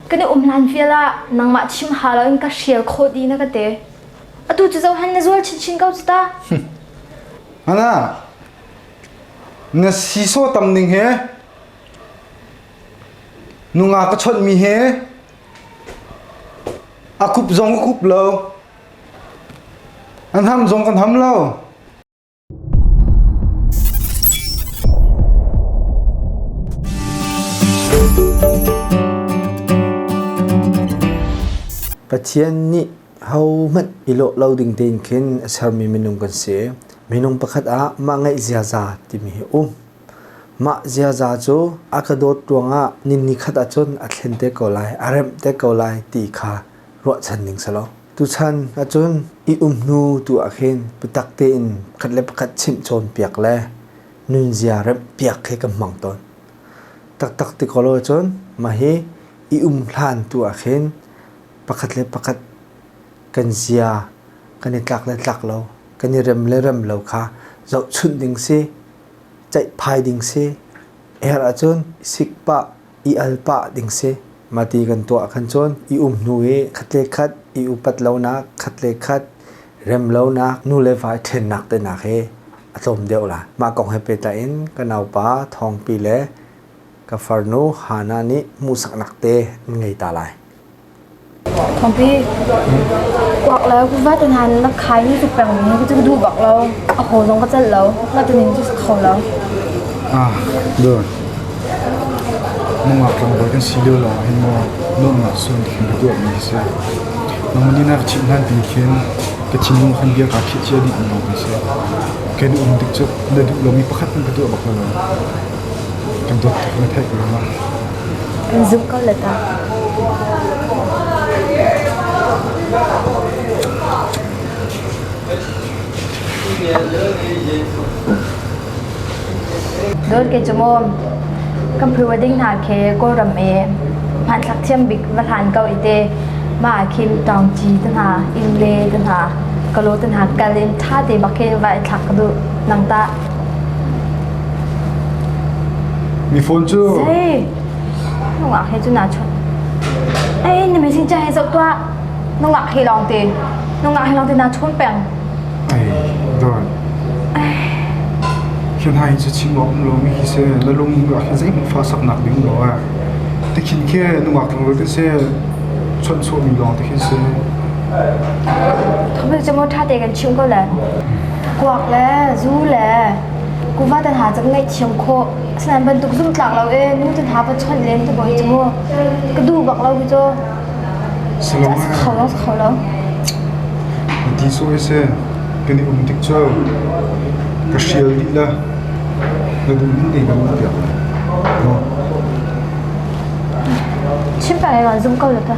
Kan i um hlan vial ah nangmah chim ha loin ka hrial khawh di na ka te. Atu cu zohan na zual chinchin ko cu ta. Hana, na si so tam ning he, nunga ka chawnh mi he, a kup zong a kup lo, an ham zong kan ham lo. Pathian nih hohmanh i lawh lo ding tein khin a sermi minung kan si. Minung pakhat ah mah ngaih ziaza timi hi um. Mah ziaza cu a ka dawt ruangah nin ni khat ahcun a thlen te ko lai, a remh te ko lai ti kha ruahchan ding si lo. Tuchan ahcun i um hnu tu ah khin biatak tein pakhat le pakhat chimh cawnpiak le nunzia remh piak khi kan hmang tawn. Taktak ti ko lo cun mah hi i um hlan tu ah khin pakhat le pakhat kan zia kan i tlak le tlak lo kan i rem le rem lo kha zohchunh ding si ceih phai ding si er ahcun sikpah i al pah ding si. Mah ti kan tuah ahkhan cun i um hnu i khat le khat i upat lonak, khat le khat rem lonak, nu le vai ṭhennak tehnak hi a tlawm deuh lai. Mah kong he pehtlai in ka naupa Thawngpi le ka farnu Hannah nih hmuhsaknak te an ngei ta lai. Khuapi kuak le kuvat ngan na khai ni ku peng ni cu ka duh bak lo. A haw zong ka celh lo. Kuvat ning cu kho lo. Ah, dur. Nungak tlangbawi kan si lio lawng hin maw nuamnak sun khin ka tuah mi si. Nangmah ni na ka chimh hlan tin khin ka thinlung khan bia kaa khih cia dih ni kan si. Kai duh um dik cu na duh lomi pakhat nan ka tuah bak lo. Kan dawt tuk na theih ruang ah. Kan zumh ko la ta. Dol ke chumom. Kan phu wa ding hna ke Kawlram e. Hman thlak thiam bik va hlan kau ite. Ma kim tong chi te hna, in le te hna. Kalo te hna kal in tha te ba ke va thlak du nang ta. Miphun cu nungak he cun aa chawt. Ei na mi sincha he zoh tuah. Nungak he lawng te, nungak he lawng te naa chawm peng. Ei, Don. Hian ha hin se chim awm lo mi hi se na lung nungak hi zei fa sak nak ding lo a. Te khin ke nungak tang lo te se chon chuah mi lawng te hin se. Thawbel chamo tha te kan chim ko le. kuak le zu le kuvat an ha cang ngaihthiam khawh asinain bantuk zumhtlak lo e nu tan ha pa chonh len te boi mu ka du bak lo hi cu salom kho lo kho lo ti su ese kan i um tik chu ka sial di la na du din nei na um piak no chim pa le zung ko la ta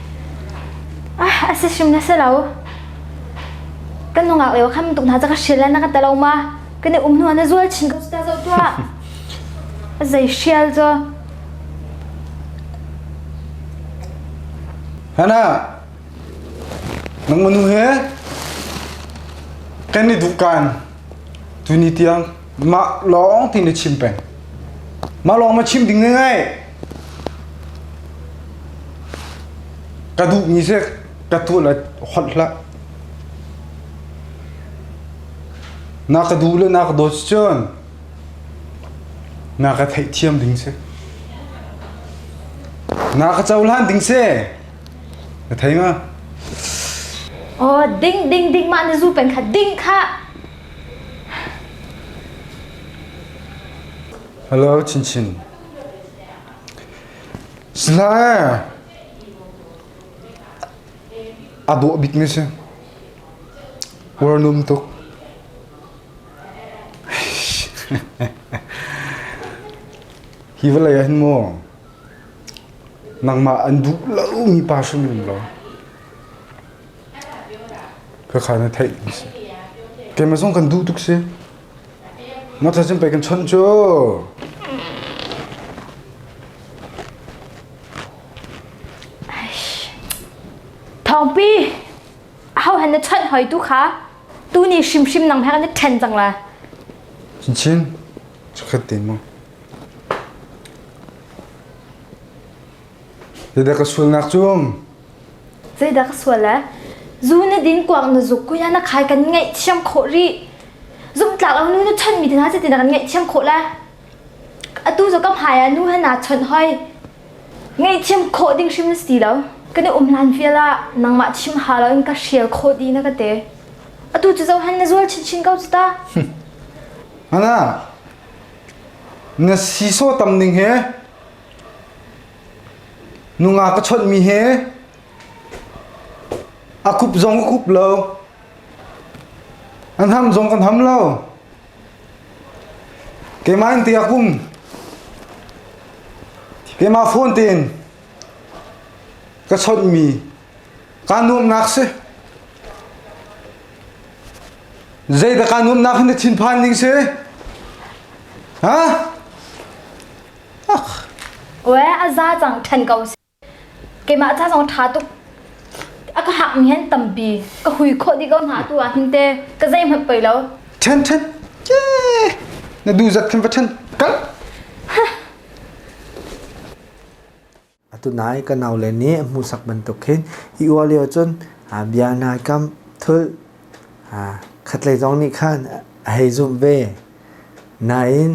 a si hrim na si lo kan nungak leo kham tuk hna cha ka hrial la na ka talo ma kan i um hnu na zual chin ko ta zo tua zei hrial zo hana nang manu he kan ni dukan tu ni tiang ma long ti ni chim pen ma long ma chim ding ngai Ka duhmi seh ka tuan a holh hlah. Na ka duh le na ka dawt si cun na ka theihthiam ding si. Na ka cohlan ding si. Na thei ma? Oh, ding ding ding mah na zu pen kha ding kha. Hello, Chin Chin. Silah a dawh bikmi si warnum tuk hi vawlei ah hin maw nangmah an duh lomi pa hrim in lo ka kha na theih ni si keimah zong kan duh tuk si Motor cun pei kan chonh cu. Thawngpi hau han na chonh hoi tu kha tu ni hrimhrim nang hek na ṭhen cang la. Chinchin, chakhat te mu. Yadda ka sulnak cu Zeidah ka sual e? Zu na din kuak na zuk kuya na khai kan ngaihthiam khawh rih. Zumtlak lo nu nu chonmi te hna cu tinak kan ngaihthiam khawh le. Atu zo kam haya nu hana chawnh hoi. Ngaihthiam khawh ding hrim na si ti lo. Ka na um hlan vial ah nangmah thim ha lo in ka hrial khawh di na ka te. Atu cu zohan na zual chinchin ko cu ta. Hana, na siso tam ning he Nungak ka chawnhmi he a kup zong ka kup lo, a hnam zong kan ham lo. Keimah in te a kum, keimah phone tein ka chawnhmi kaa nuamnak si. Zeidah kaa nuamnak hi na thinphan ding si? Ha? Oe a za cang ṭhen ko seh. Keimah ca zong ṭha tuk. A ka hak mi hen tampi ka hui khawh dih ko hna tu ah hin te ka zei hmanh pei lo. Ṭhen ṭhen. Cie. Na duh zat khin va ṭhen. Kal. Atu nai ka naule nih a hmuhsak bantuk khin hi uar lio cun bia nai kam thulh khatlei zong nih khan a hei zumh ve. Nain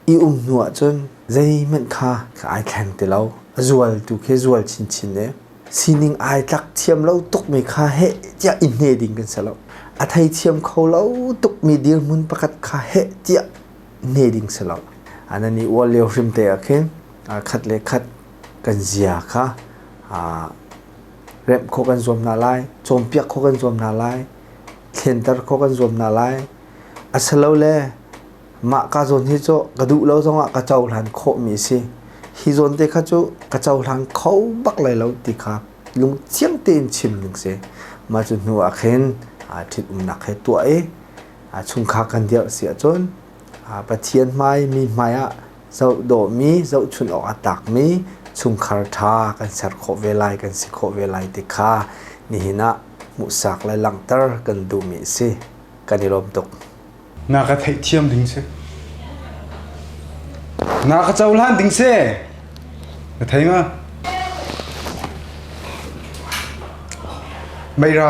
i um hnu ahcun zeihmanh kha ka ai thleng ti lo. A zual tu khi a zual chinchin i sining ai tlak thiam lo tukmi kha heh tiah i hne ding kan si lo. A thei thiam kho lo tukmi dirhmun pakhat kha heh tiah hne ding si lo. A nan i uar lio hrimte ah khin khat le khat kan zia kha remh khawh kan zuam hna lai, cawnpiak khawh kan zuam hna lai, thlianter khawh kan zuam hna lai. A silole mah ka zawn hi cu ka duh lo zongah ka cohlan khawhmi a si. Hi zawn te kha cu ka cohlang kho bak lai lo ti kha lungthiang tein chim ding si. Mah cu hnu ah khin ṭhitumnak he tuah i chungkhar kan dirh si ahcun Pathian hmai, mi hmai ah Zoh dawhmi, zohchunh awk a tlakmi chungkhar ṭha kan ser khawh ve lai, kan si khawh ve lai ti kha nihin ah hmuhsak le langhter kan duhmi a si. Kan i lawm tuk. Na ka theihthiam ding si. Na ka cohlan ding si. Na thei nga. Meira.